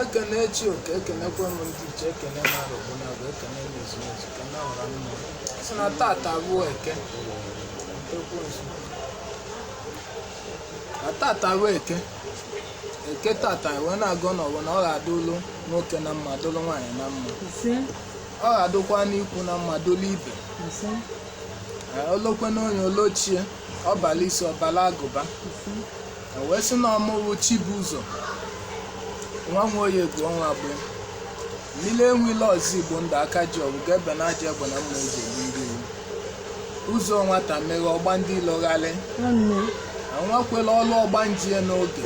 ekene chi oke ekenekwa m ndị ichie ekene mara ogbuna bụ ekene mezu mezu kene ọra mmụọ sị na tata bụ eke na tata bụ eke eke tata wee na-agọ n'ọfọ na ọ ga-adụlụ nwoke na mma dụlụ nwaanyị na mma ise ọ ga-adụkwa n'ikwu na mma dụlụ ibe ise Ee, olokwe n'onye olochie ọ bala isi ọ bala agụba ise E wee sị na ọ mụ wụ Chibụzọ nwa Nwoye bụ ọnwa bụ mmiri enwile ọzọ igbo ndụ aka ji ọgwụ ga-ebe na aja egbe na mma eji egbu ndị iwu ụzọ nwata meghe ọ gba ndị ilo gharị nwanne enwekwela ọlụ ọgba njie n'oge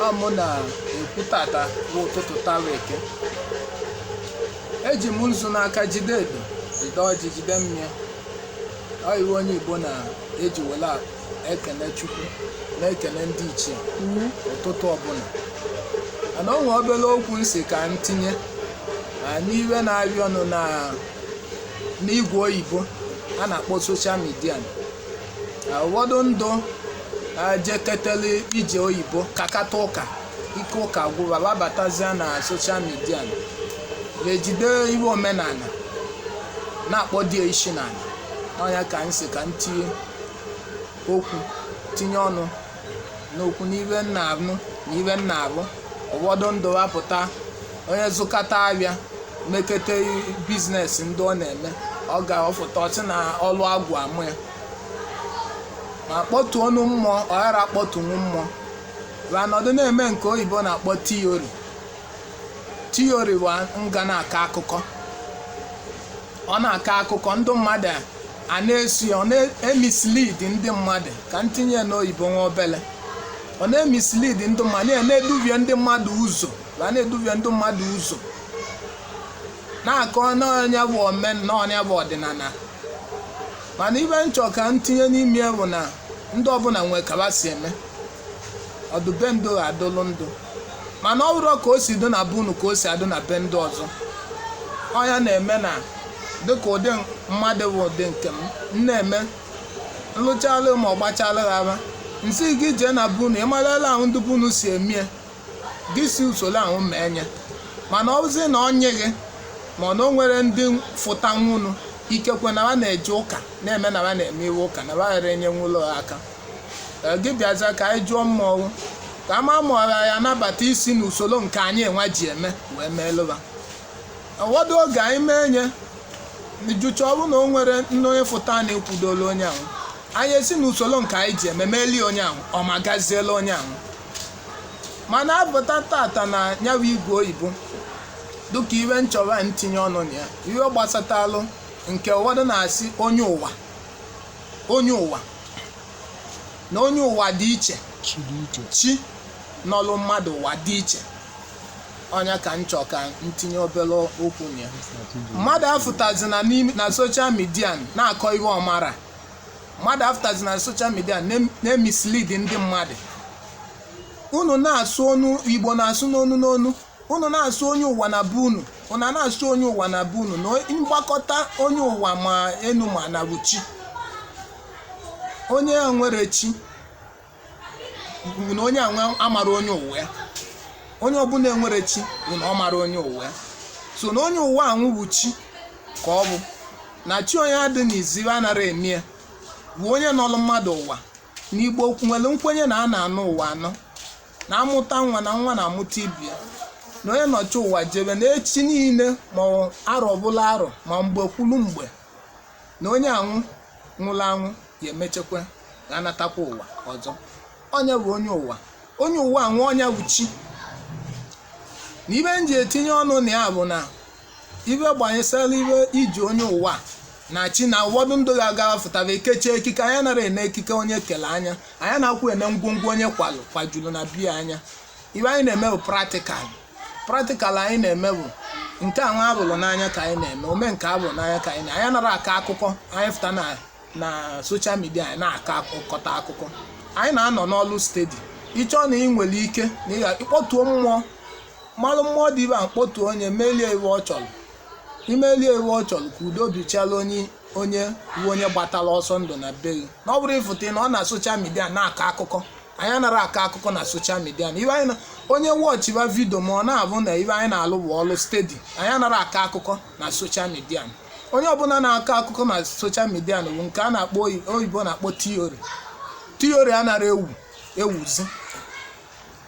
a mụ na-ekwu tata bụ ụtụtụ tara eke eji m nzu n'aka jide edo jide ọjị jide mmịa ọ ihe onye Igbo na-eji wele a- ekene chukwu na-ekene ndị ichie n'ụtụtụ ọbụla mana o nwee obere okwu m sị ka m tinye na n'iwe na-ahịọnụ na n'igwe oyibo a na-akpọ social media ụfọdụ ndụ jeketele ije oyibo kakata ụka ike ụka gwụ ba ba abatazia na social media na-ejide iwe omenala na-akpọ di isi n'ala ọ nya ka m sị ka m tinye okwu tinye ọnụ n'okwu n'ihe m na-anụ na ihe m na-afụ ụfọdụ ndụ apụta onye zụkata ahịa mekete business ndị ọ na-eme ọ ga-afụta ọ sị na ọlụ agwụ amụ ya ma kpọtuo ọnụ mmụọ ọ ghara akpọtunwu mmụọ ma nọdụ na-eme nke oyibo na-akpọ theory theory bụ nga na-akọ akụkọ ọ na-akọ akụkọ ndị mmadụ a na-esi ọ na-emislead ndị mmadụ ka m tinye ya n'oyibo nwa obele ọ na-emislead ndị mmadụ na- na-eduvie ndị mmadụ ụzọ a na-eduvie ndị mmadụ ụzọ na-akọ na ọ nya bụ omen na ọ nya bụ ọdịnala mana ibe m chọ ka m tinye n'ime ya bụ na ndị ọbụla nwee ka ba si eme ọ dụ be ndụ ha adụlụ ndụ mana ọ bụrụ ka o si dị na be unu ka o si adị na be ndị ọzọ ọ ya na-eme na dịka ụdị mmadụ bụ ụdị nke m m na-eme m lụchalụ ma ọ gbachalụ ha afa m sị gị jee na be unu ịmarala ahụ ndị be unu si emie gị si usoro ahụ mee nya mana ọ bụzi na ọ nyị gị mana o nwere ndị fụtanwunu ikekwe na ha na-eje ụka na-eme na ha na-eme iwe ụka na ha ghara enyenwulu ha aka Ee, gị bịaza ka anyị jụọ mmọnwụ ka a ma ma ọ ya-anabata isi n'usoro nke anyị nwa ji eme wee meelụ va ụfọdụ oge anyị mee anyị jụcha ọ bụrụ na o nwere onye fụta na ekwudola onye ahụ anyị esi n'usoro nke anyị ji eme meelie onye ahụ ọ ma gaziela onye ahụ mana abụta tata na ya bụ igwe oyibo dịka ive m chọrọ ka m tinye ọnụ na ya ive gbasatalụ nke ụfọdụ na-asị onye ụwa onye ụwa na onye ụwa dị iche chi nọlụ mmadụ ụwa dị iche ọ nya ka m chọ ka m tinye obere okwu na ya mmadụ afụtazi na n'ime- na soshal midia na-akọ ihe ọ mara mmadụ afụtazi na soshal midia na- na-emislid ndị mmadụ unu na-asụ ọnụ Igbo na-asụ n'onu n'onu unu na-asụ onye ụwa na be unu unu a na-asụ onye ụwa na be unu na mgbakọta onye ụwa ma enu ma ana bụ chi onye enwere chi bụ na onye anwụ amara onye ụwa ya onye ọbụla enwere chi bụ na ọ mara onye ụwa ya so na onye ụwa anwụ bụ chi ka ọ bụ na chi onye adị n'izu ive anara eme ya bụ onye nọlụ mmadụ ụwa na Igbo nwere nkwenye na a na-anọ ụwa anọ na a mụta nwa na nwa na-amụta ibe ya na onye nọchi ụwa jebe na echi niile ma arọ bụla arọ ma mgbe kwulu mgbe na onye anwụ nwụrụ anwụ ya emechekwa ga-anatakwa ụwa ọzọ ọ nya bụ onye ụwa onye ụwa anwụ ọ nya bụ chi na ive m ji etinye ọnụ na ya bụ na ive gbanyesara ive iji onye ụwa na chi na ụfọdụ ndị ga-aga fụtara ekechi ekike anyị anara ene ekike onye kele anyị anyị anarakwụ ene ngwongwo onye kwalụ kwajuru na be ya anyị ive anyị na-eme bụ pratikal pratikal anyị na-eme bụ nke anwa a fụrụ n'anya ka anyị na-eme ome nke a fụ n'anya ka anyị na anyị anara akọ akụkọ anyị fụta na na soshal midia anyị na-akọ akụkọta akụkọ anyị na-anọ n'ọlụ stedi ị chọọ na ị nwere ike na ị kpọtuo mmụọ malụ mmụọ dị ive a kpọtu onye melie ive ọ chọrọ imelie ive ọ chọrọ ka udo dịchala onye onye bụ onye gbatara ọsọ ndụ na be gị na ọ bụrọ ịfụta na ọ na soshal midia na-akọ akụkọ anyị anara akọ akụkọ na soshal midia na ive anyị na- onye wọchiba vidio ma ọ na-abụ na ive anyị na-alụ bụ ọlụ stedi anyị anara akọ akụkọ na soshal midia onye ọbụla na-akọ akụkọ na soshal midia bụ nke a na-akpọ oyi- oyibo na-akpọ tiori tiori anara ewu ewuzi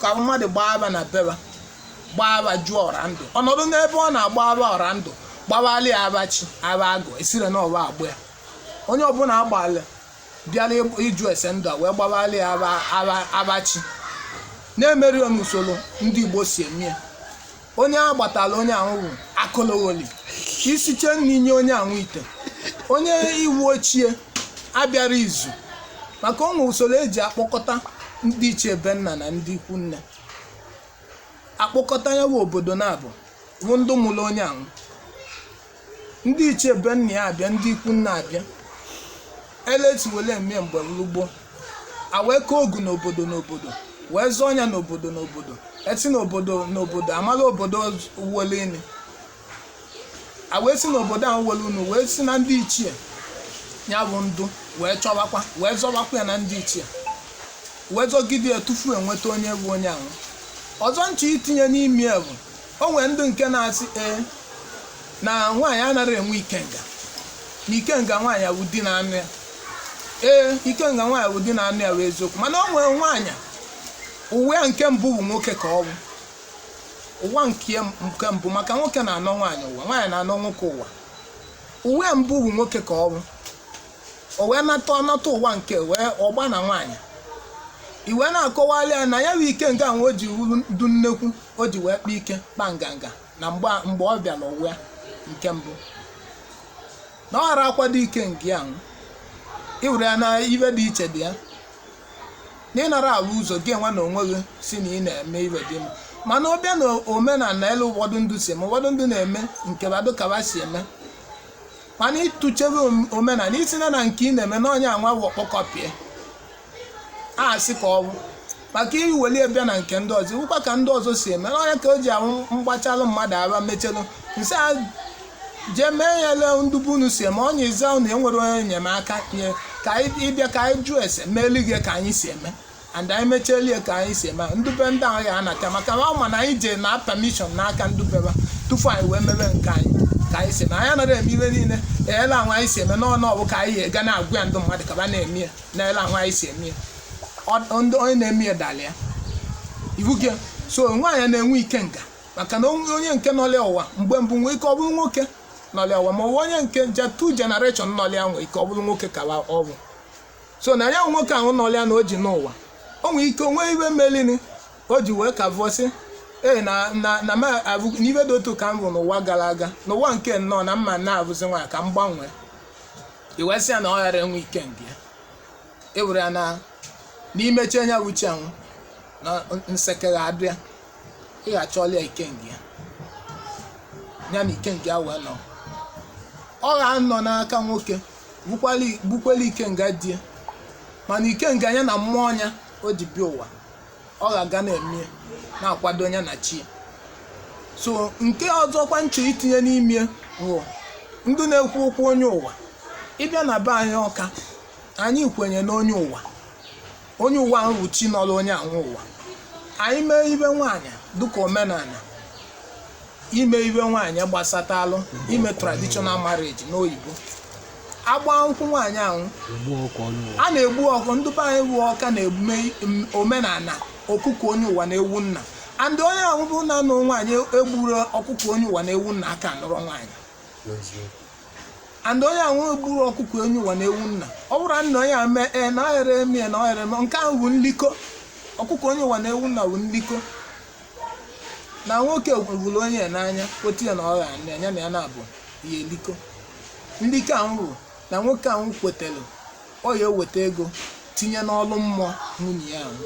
ka mmadụ gbaa ava na be va gbaa ava jụọ ọra ndụ ọnọdụ n'ebe ọ na-agba ava ọra ndụ gbabala ya ava chi ava agụ esire na ọba agba ya onye ọbụla agbalị bịara ịjụ ese ndụ a wee gbabala ya ava chi na-emeri n'usoro ndị Igbo si eme ya onye agbatala onye ahụ bụ akologholi i siche nri nye onye ahụ ite onye iwu ochie abịara izu maka o nwe usoro eji akpọkọta ndị ichie be nna na ndị ikwu nne akpọkọta ya bụ obodo naabụ bụ ndị mụrụ onye ahụ ndị ichie be nna ya abịa ndị ikwu nne abịa ele e si wele eme mgbe lụgbo a wee kee ogu n'obodo n'obodo wee zọọ ya n'obodo n'obodo e si n'obodo n'obodo amala obodo wele ini a wee si n'obodo ahụ wele unu wee si na ndị ichie ya bụ ndụ wee chọwakwa wee zọwakwa ya na ndị ichie wee zọgide ya tufu enweta onye bụ onye ahụ ọzọ nche itinye n'ime ya bụ o nwere ndị nke na-asị ee na nwaanyị anaghị enwe ikenga na ikenga nwaanyị wụ di na-anụ ya ee ikenga nwaanyị wụ di na-anụ ya wụ eziokwu mana o nwere nwaanyị ụwa ya nke mbụ bụ nwoke ka ọ bụ ụwa nke ya nke mbụ maka nwoke na-anọ nwaanyị ụwa nwaanyị na-anọ nwoke ụwa ụwa ya mbụ bụ nwoke ka ọ bụ o wee nata ọ nata ụwa nke wee ọgba na nwaanyị i wee na-akọwali ya na ya bụ ikenga ahụ o ji wuru du nnekwu o ji wee kpa ike kpa nganga na mgbe a- mgbe ọ bịara ụwa nke mbụ na ọ ghara akwado ikenga ahụ i were ya na ibe dị iche dị ya na ịnara ala ụzọ gị nwa na onwe gị sị na ị na-eme ibe dị mma mana ọ bịa na omenala ele ụfọdụ ndụ si eme ụfọdụ ndụ na-eme nke ba dụ ka ba si eme mana ị tụchebe omenala ị sị na na nke ị na-eme na onye anwa wụ ọkpọkọpịa a sị ka ọ bụ maka i weli bịa na nke ndị ọzọ iwukwa ka ndị ọzọ si eme na ọ ya ka o ji awụ m gbachalụ mmadụ aba mechelụ m sị ya jee mee ya ele ndụ be unu si eme onye iza unu enwere onye enyemaka nye ka ị bịa ka anyị jụọ ese meeli gị ka anyị si eme and anyị mechieli ya ka anyị si eme ndụ be ndị ahụ ya anata maka na ọ ma na anyị jee na permission n'aka ndụ be ba tupu anyị wee mebe nke anyị ka anyị si eme anyị anaghị eme ibe niile ele ahụ anyị si eme n'ọnụ ọ wụ ka anyị ga na-agwa ya ndị mmadụ ka ba na-eme ya na ele ahụ anyị si eme ya Ọ- ndị onye na-eme ya dara ya iwu gị so nwaanyị na-enwe ikenga maka na o nwe onye nke nọlị ya ụwa mgbe mbụ nwee ike ọ bụrụ nwoke nọlị ya ụwa ma ọ bụ onye nke je two generation nọlị ya nwee ike ọ bụrụ nwoke ka ọ bụ so na ya bụ nwoke ahụ nọrọ ya na o ji n'ụwa o nwere ike o nwe ibe melini o ji wee ka vọsị ee na na na ma abụ n'ife dị otu ka m bụ n'ụwa gara aga n'ụwa nke m nọ na m ma na-abụzi nwa ka m gbanwee i wee sị ya na ọ ghara enwe ikenga ya ewere ya na n'imechi anya uche anwụ na nsekere abịa ị ga-achọli ya ikenga ya ya na ikenga ya wee nọ ọ ga-anọ n'aka nwoke bukwali- bukweli ikenga di ya mana ikenga ya na mmụọ nya o ji bịa ụwa ọ ga-aga na-eme ya, na-akwado ya na chi ya so nke ọzọkwa nche itinye n'ime bụ ndị na-ekwu okwu onye ụwa ịbịa na be anyị Ọka anyị kwenye n'onye ụwa onye ụwa ahụ bụ chi nọrọ onye anwụ ụwa anyị mee ibe nwaanyị dịka omenala ime ibe nwaanyị gbasatalụ ime traditional marriage n'oyibo agba nkwụ nwaanyị ahụ a na-egbu ọkụ ndị be anyị bụ Ọka na-emume m- omenala ọkụkọ onye ụwa na ewu nna and onye ahụ bụ na-anụ nwaanyị egburo ọkụkọ onye ụwa na ewu nna aka nụrọ nwaanyị and onye ahụ egburo ọkụkọ onye ụwa na ewu nna ọ bụrụ na onye a mee ee na ọhere eme ya na ọhere eme nke ahụ bụ nlikọ ọkụkọ onye ụwa na ewu nna bụ nlikọ na nwoke hụrụ nwunye ya n'anya otu ya na ọ ghara anya na ya na-abụ ya elikọ nlikọ ahụ bụ na nwoke ahụ kwetara ọ ya eweta ego tinye n'ọlụ mmụọ nwunye ya ahụ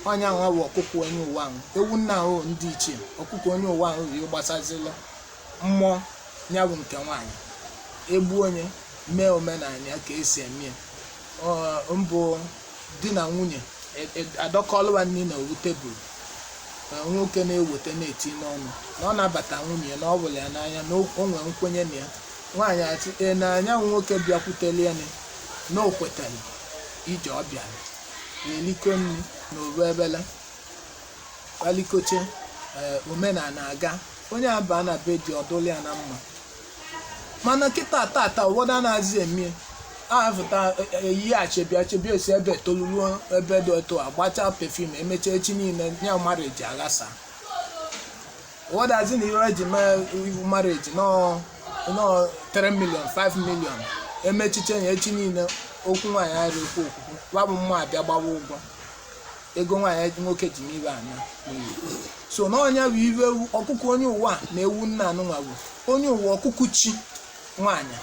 onye ahụ bụ ọkụkọ onye ụwa ahụ ewu nna ahụ ndị ichie ọkụkọ onye ụwa ahụ ya gbasazila mmụọ ya bụ nke nwaanyị egbuo nye mee omenala ya ka esi eme ya Ọ- mbụ di na nwunye e- e- adọkọlụ va nri na ovu table na nwoke na-eweta na-eti n'ọnụ na ọ na-abata nwunye ya na ọ vụlụ ya n'anya na o o nwere nkwenye na ya nwaanyị achị e na anya nwoke bịakwuteli ya na- na o kwetara ije ọ bịara na-elikọ nri na ovu evele va likọcha ee omenala aga onye a baa na be di ọ dụlụ ya na mma mana kịta tata ụfọdụ anaghịzi emie ahafụta eyighachi bịa chebia esi ebe toluruo ebe dị otu a gbachaa perfume emechaa echi niile ya marriage aghasa ụfọdụ asị na ihe eji mee ibe marriage nọọ nọọ 3 million 5 million emechiche ya echi niile okwu nwaanyị arị okwu okwukwu wa bụ mma abịa gbawa ụgwọ ego nwaanyị nwoke ji n'ibe anya n'iyi so na ọ nya bụ ibe ewu ọkụkụ onye ụwa na ewu nna anụnwa bụ onye ụwa ọkụkụ chi nwaanyị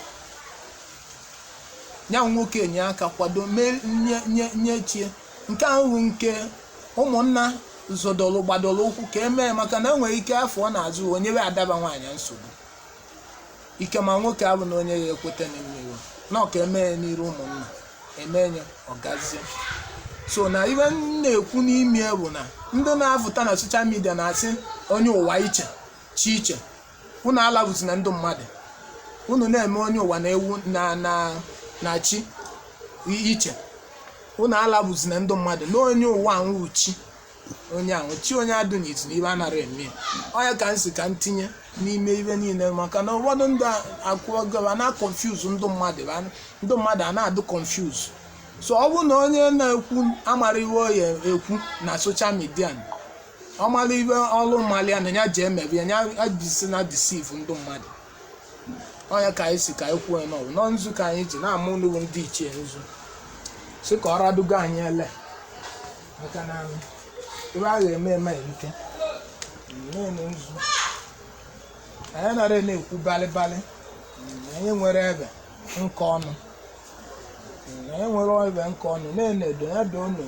ya nwoke enye aka kwado mee nye nye nye chi ya nke ahụ bụ nke ụmụnna zọdọlụ gbadolu ụkwụ ka emee maka na enwere ike afọ ọ na-azụ onye we adaba nwaanyị nsogbu ike ma nwoke abụ na nwunye ya ekweta na mmiri na Ọka eme ya n'iru ụmụnna eme ya ọ gazie so na ibe m na-ekwu n'ime ya bụ na ndị na-apụta na social media na-asị onye ụwa iche chi iche unu alavuzina ndị mmadụ unu na-eme onye ụwa na ewu na na na chi iche unu alavuzina ndị mmadụ na onye ụwa nwụ chi onye ahụ chi onye adụ n'iti na ive anara eme ya. ọ ya ka m si ka m tinye n'ime ive niile maka na ụfọdụ ndị akwụgo a na-confuse ndị mmadụ ba- ndị mmadụ a na-adụ confuse so ọ bụrụ na onye na-ekwu amara ive ọ ya ekwu na social media ọ mara ive ọrụ mmalị ya na ya ji emebi ya ya bisi na deceive ndị mmadụ ọ ya ka anyị si ka anyị kwuo ya na ọ wụ na nzu ka anyị ji na-ama ụlọ ndị ichie nzu si ka ọ radugo anyị ele maka na ive a ga-eme eme erike na-eme nzu anyị nara na-ekwu balịbalị anyị nwere ive nke ọnụ anyị nwere ive nke ọnụ na-enedo ya doo unu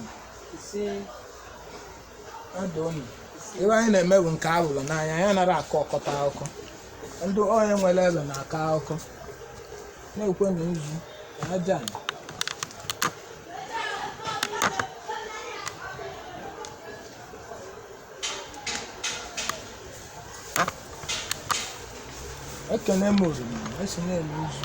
ya doo unu ive anyị na-eme bụ nke a hụrụ n'anya anyị nara akọ ọkọta akụkọ ndị onye nwere ive na-akọ akụkọ na-ekwe na nzu na aja ala. ekene m oriri e si na-eme nzu